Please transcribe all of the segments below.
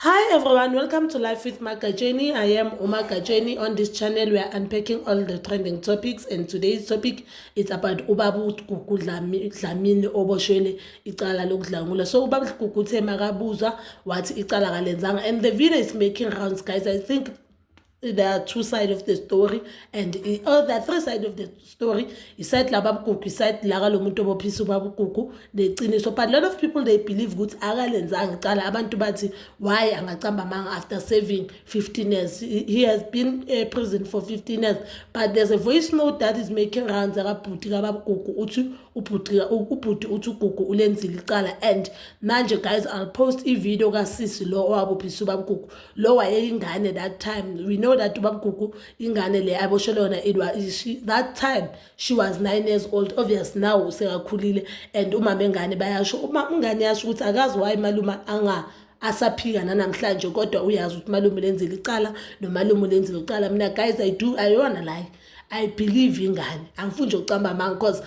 Hi everyone, welcome to Life with Magajeni. I am Uma Gajeni. On this channel, we are unpacking all the trending topics and today's topic is about ubabu Gugu Dlamini oboshwele icala lokudlangula. So ubabu Gugu uthe makabuzwa wathi icala kalenzanga and the video is making rounds guys. I think there are two side of the story and oh, the three side of the story isayidi lababugugu isayidi laka lo muntu obophisa ubabugugu neqiniso but a lot of people they believe ukuthi akalenzanga icala abantu bathi why angacamba amanga after saving 15 years he has been a prison for 15 years but there's a voice note that is making rounds akabhuti kababugugu uthi ubhuti ubhuti uthi ugugu ulenzile icala and manje guys i'll post i-video kasisi lo owabophisa ubabugugu lo wayeyingane that time we know that ubabgugu ingane le aboshelwe yona it was she, that time she was nine years old obvious now usekakhulile and umama engane bayasho uma ingane yasho ukuthi akazi waye maluma anga asaphika nanamhlanje kodwa uyazi ukuthi malume lenzile icala nomalume lenzile icala mina guys i do ayona like I believe ingane angifuni nje ukucamba amanga because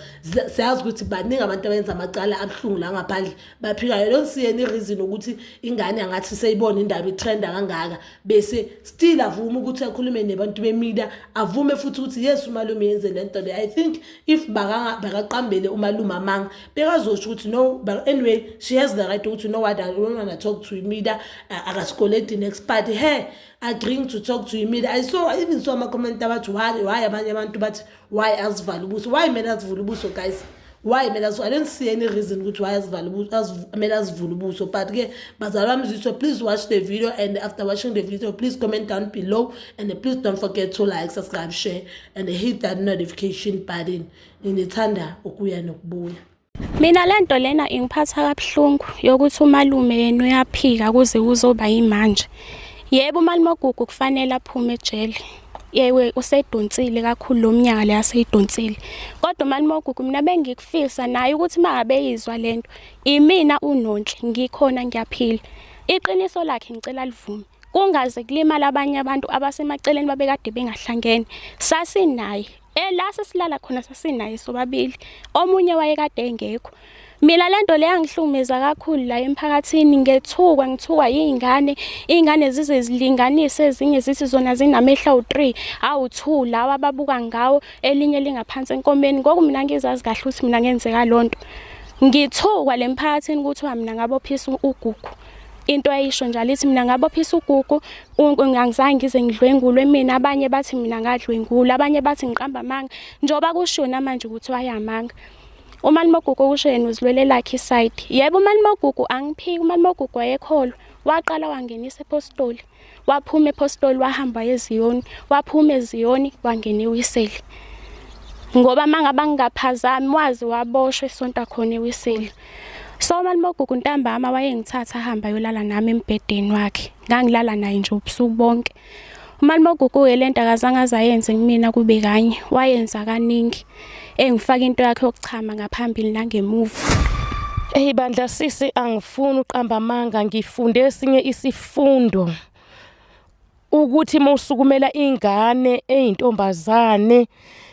siyazi ukuthi baningi abantu abenza amacala abuhlungu la ngaphandle baphikayo loo siyeni ireason ukuthi ingane angathi seyibona indaba itrenda kangaka bese still avume ukuthi akhulume nebantu bemida avume futhi ukuthi yes umalume yenze le nto le i think if bakaqambele umalume amanga bekazosho ukuthi no but anyway she has the right ukuthi no what i don't wanna talk to imida akasikoledi next party he agreeing to talk to imile i saw I even saw amacomment abathi why why abanye abantu bathi why azivale ubuso why kumele azivule ubuso guys why kumele azivule i don't see any reason ukuthi why azivale kumele azivule ubuso but ke bazali bami zitho please watch the video and after watching the video please comment down below and please don't forget to like subscribe share and hit that notification button nginithanda ukuya nokubuya Mina lento lena ingiphatha kabuhlungu yokuthi umalume yena uyaphika kuze kuzoba yimanje. Yebo umalume ogugu kufanele aphume ejele. Yewe usedonsile kakhulu lo mnyaka le aseyidonsile. Kodwa umalume ogugu mina bengikufisa naye ukuthi makabeyizwa lento. Imina unonhle ngikhona ngiyaphila. Iqiniso lakhe ngicela livume. kungaze kulimala abanye abantu abasemaceleni babekade bengahlangene sasinaye ela sesilala khona sasinaye sobabili omunye wayekade engekho mina lento le yangihlumeza kakhulu la emphakathini ngethukwa ngithukwa yingane ingane zize zilinganise ezinye zithi zona zinamehla u3 awu2 lawa babuka ngawo elinye lingaphansi enkomeni ngoku mina ngizazi kahle ukuthi mina ngenzeka lonto ngithukwa lemphakathini ukuthi mina ngabophisa ugugu into ayisho njalo ithi mina ngabophisa ugugu ngangizange ngize ngidlwengulwe mina abanye bathi mina ngadlwengula abanye bathi ngiqamba amanga njengoba kushiwo namanje ukuthi wayamanga umalimogugu okusho yena uzilwele lakhe isayidi yebo umalimogugu angiphiki umalimogugu wayekholwa waqala wangenisa ephostoli waphuma ephostoli wahamba eziyoni waphuma eziyoni wangena ewiseli ngoba mangaba ngingaphazami wazi waboshwe isonta khona ewiseli so umalimogugu ntambama wayengithatha ahamba yolala nami embhedeni wakhe ngangilala naye nje ubusuku bonke umalimogugu-ke le nto akazange azayenze kumina kube kanye wayenza kaningi engifaka into yakhe yokuchama ngaphambili nangemuva Hey bandla sisi angifuni uqamba amanga ngifunde esinye isifundo ukuthi musukumela ingane eyintombazane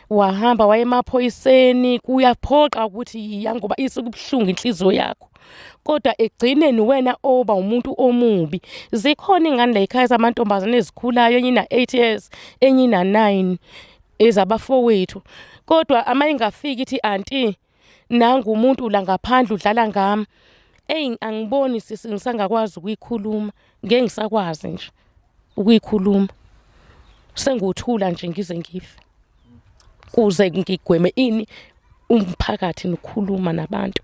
wahamba wayemaphoyiseni kuyaphoqa ukuthi yiya ngoba isikubuhlungu inhliziyo yakho kodwa egcineni wena oba umuntu omubi zikhona ingane la ekhaya zamantombazane ezikhulayo enye ina-8 years enye ina-9 ezabafowethu kodwa ama ingafiki ithi anti nangu umuntu la ngaphandle udlala ngami eyi angiboni sisi ngisangakwazi ukuyikhuluma ngeke ngisakwazi nje ukuyikhuluma senguthula nje ngize ngife kuze ngigweme ini umphakathi nokhuluma nabantu